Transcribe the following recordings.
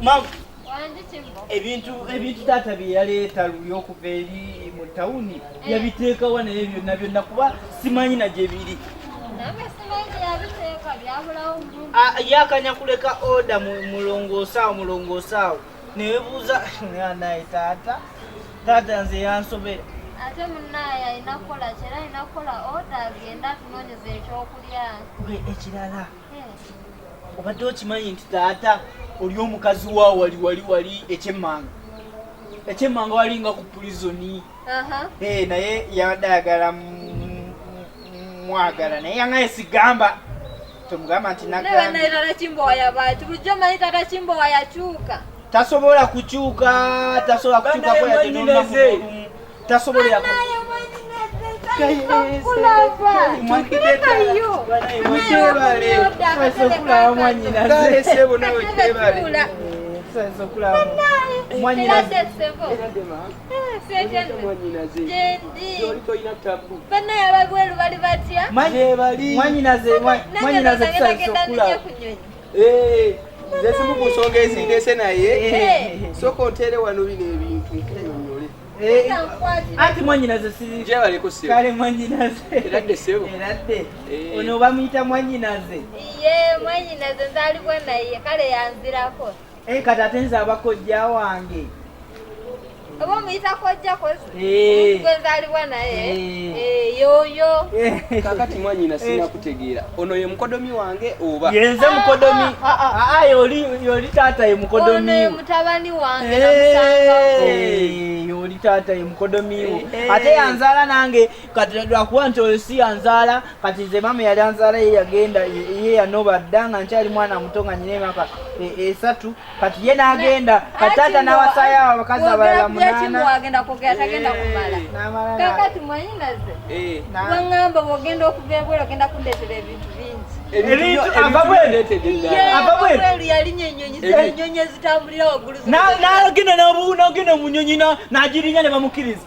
Mama. ebintu ebintu taata bye yaleeta luli okuva eri mu tawuni eh. yabiteekawa naye byonna byonna kuba simanyi na gye biri ah, yakanya kuleka oda mulongoosaawo mulongoosaawo newebuuza naye taata taata nze yansobera ate munaye alina kukola kyera alina kukola oda agenda atunonyeza ekyokulya ekirala obadde okimanyi nti taata oli omukazi wa wali wali wali ekyemmanga ekyemmanga wali nga ku pulizoni eh, naye yabadde ayagala mwagala naye yangaye sigamba tomugamba nti tasobola kukyuka tasobola kukyuka tasobolera zezimu ku nsonga ezindeese naye soka ontere wano bino ebintu ati mwanyinaze kale mwanyinaze eradde eh. ono bamuyita mwanyinaze ye mwanyinaze nzalibwa naye kale yanzirako eh, kati ate nze abakojja wange oba omuyita kojja kwezalibwa eh. naye yoyo kakati mwanyina sinakutegeera ono ye mukodomi wange oba yenze mukodomi aa ah, ah, ah, yoli yoli taata ye mukodomi ono ye mutabani wange eh, namusangawo eh, yoli taata ye mukodomi wo eh, ate yanzaala nange kati lwakuba nti oyo si yanzaala kati nze mama yali anzaala ye yagenda ye yanoba dda nga nkyali mwana muto nga nyina emyaka e, esatu kati ye n'agenda kati taata n'awasaayo awo abakazi abalala munaana agenda kwogera tagenda kumala kakati mwanyinaze eh. wangamba bwogenda okuva ebweru ogenda kundeetera ebintu bingi nagenda munyonyi nagirinya ne bamukiriza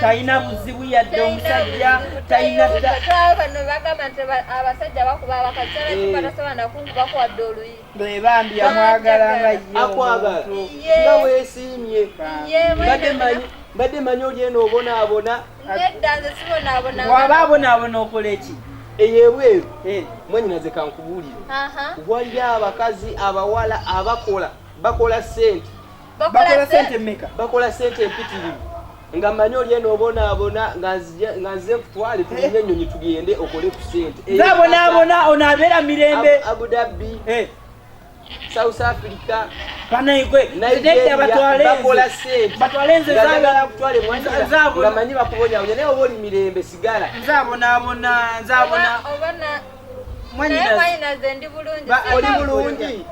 talina buzibu yadde omusajja talina bwebambi yamwagala nga nga wesiimye mbadde manyi oli eno obonaabona waba abonaabona okola eki eyebweru eh. mwanyinaze kankubuulire waliyo abakazi abawala abakola bakola sente bakola sente meka bakola sente empitirivu nga manyi oli eno obonaabona nga nze kutwale tulinye ennyonyi tugende okole ku sente abonaabona ono abeera mirembe abudabbi eh. south africa banaigwebakola sentebatwalenzezaabonaabonamanyi bakubonabonya naye oba oli mirembe sigala nzabonaabona nzabona oli bulungi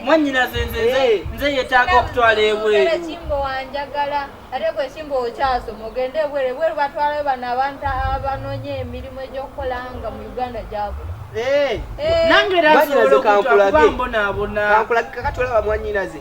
mwanyinaze nzenze eh. nze yetaaga okutwala ebweru kimbo wanjagala ate gwe kimbo okyasoma ogende ebweru ebweru batwalayo bano abantu abanonye emirimu egyokukola nga mu uganda gyabula eh. eh. nange era nsobola okutwala kuba mbonaabona kankulage kakatwala bamwanyinaze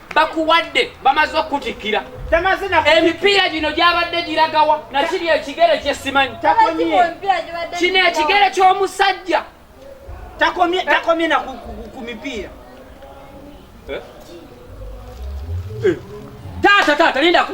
bakuwadde bamaze okutikkira emipiira gino gyabadde giragawa nakiri ekigere kyesimanyi kino ekigere ky'omusajja takomye na ku mipiira eh? Eh. taata taata lindako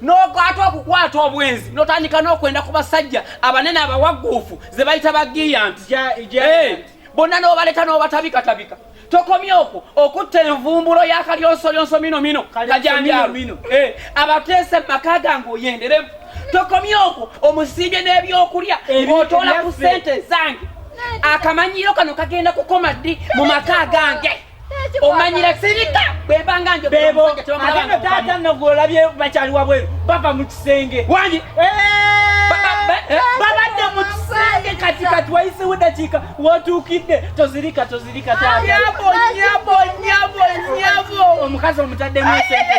n'okwata okukwata obwenzi n'otandika n'okwenda ku basajja abanene abawagguufu ze bayita ba giyanti eh, bonna n'obaleeta n'obatabikatabika tokomye okwo okutta envumbulo yakalyonsolyonso mino mino kajanjalo eh, abateese mu maka gange oyenderemu tokomye okwo omusiibye n'ebyokulya otoola ku sente zange akamanyiiro kano kagenda kukoma ddi mu maka gange omanyira sirika bwebanga njo bebo agenda taata nagwola bye bakyali wabweru bava mu kisenge wangi eh! eh, babadde mu kisenge kati kati wayisewo dakiika wotuukidde tozirika tozirika omukazi omutaddemu esente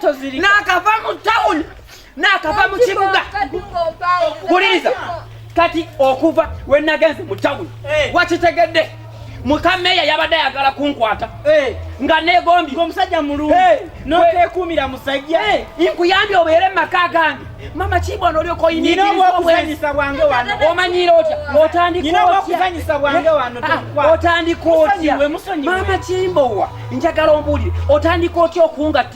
tozirika nakava mu tawuni nakava mu kibuga wuliriza kati okuva we nagenze mu tawuni eh. wakitegedde mukameeya yabadde ayagala kunkwata eh. nga negombi omusajja mulungi eh. notekuumira musajja nkuyambye obeere mumaka gange mama kibwana olyoka oyinirizaobwezisa bwange wano omanyira otya otandikaokuzanyisa bwange wano ah, otandika otya mama kimbowa njagala ombuulire otandika otya okungatta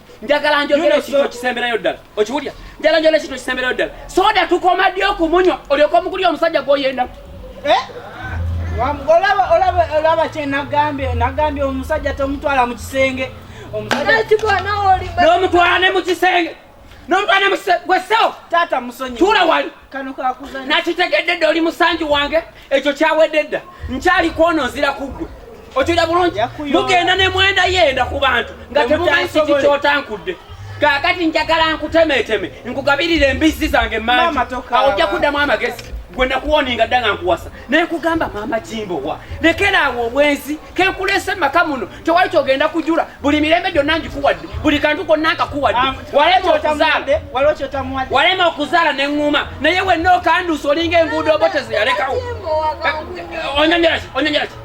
njagala njogera ekintu ekisemberayo ddala okiwulya njagala njogera ekintu ekisemberayo ddala soda tukoma ddi okumunywa olyoka omukulya omusajja gwoyenda eh? olaba kyenagambye nagambye omusajja tomutwala mu kisenge n'omutwala ne mu kisenge n'omutwala ne mu kisenge gwesewo taata musonyi tuula wali nakitegedde dda oli musanju wange ekyo kyawedde dda nkyali kwono nzira kuggwe okiwulira bulungi mugenda ne mwenda yenda ku bantu nga temumanyi kiki kyotankudde kakati njagala nkutemeteme nkugabirira embizzi zange mangi awo ojja kuddamu amagezi gwe nakuwoninga dda nga nkuwasa naye kugamba maama kimbowa lekera awo obwenzi kekulese maka muno tewali kyogenda kujula buli mirembe gyonna ngikuwadde buli kantu konna nkakuwadde ah, walema okuzaala walema okuzaala neŋŋuma naye wenna okanduusa olinga enguudo obo tezeyalekawo onyonyeraki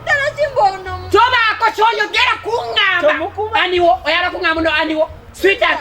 tobaako kyoyogera kuŋŋamba aniwo oyala kuŋŋamba no aniwo sweetheart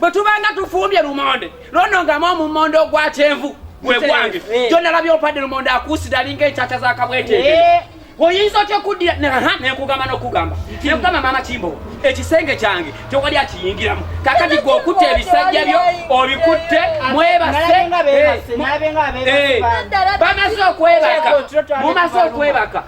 bwe tubanga tufumbye lumonde lonongamu omumonde ogwa kyenvu gwe gwange gyonna eh. labye opadde lumonde akuusira alinga enkyakya za kabweteete eh. oyinza otya okuddira nenkugamba nokugamba nekugamba maama kimbowa ekisenge kyange tewali akiyingiramu kakati gwe okutte ebisajja byo obikutte mwebase eh, bamaze okwebaka mumaze okwebaka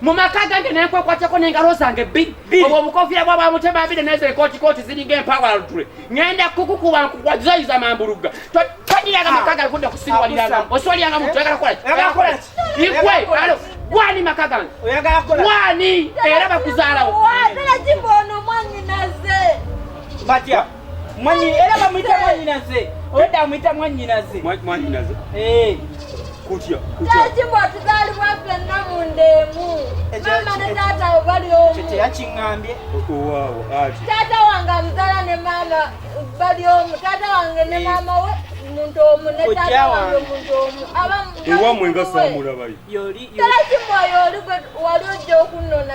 mu maka gange naye nkwekwateko n'engalo zange bbiri obwo obukofiira bwa bwamutema mbiri naye zekooti kooti ziringa empawalutule ngenda kukukuba nkukwazayiza mambulugga tonyiraga maka gange kudda kusiruwaliranga osiwaliranga muntu oyagala kukolaki igwe alo gwani maka gange gwani era bakuzaalawo Mwanyi era bamuyita mwanyinaze. Oda amuyita mwanyinaze. Mwanyinaze. Eh. Kutya. Kutya. Kati mwatuzali bwaffe namu ndemu. Mama ne tata obali omu. Kete yakingambye. Okuwawo ati. Tata wange amuzala ne mama bali omu. Tata wange ne eh. mama we muntu omu ne tata wange muntu omu. Abamu. Ewa mwenga samura bayi. Yoli. Kati mwa yoli wali ojja okunona.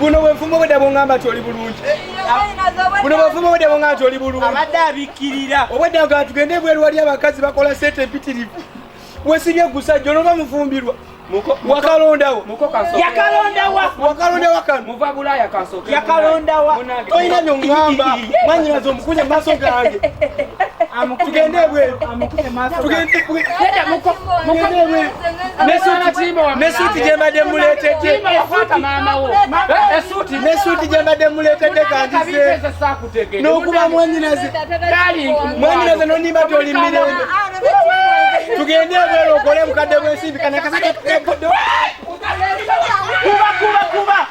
buno bwefumu obwedda bwongamba nti oli bulungi buno bwefumu obwedda bwongamba nti oli bulungi abadde abikkirira obwedda nga tugende ebweru wali abakazi bakola sente empitirivu wesibye gusajja onoba mufumbirwa wakalondawo yakalondawa wakalondawa kano yakalondawa tolina byongamba mwanyinaza omukunye mumaaso gange tugende ebweru nesuuti gyembadde muleetedde nesuuti gyembadde muleetedde kandize n'okuba mwanyinaze mwanyinaze nonimba toli mirembe tugende ebweru okole bukadde bwensimbi kanakasakekuba kuba kuba kuba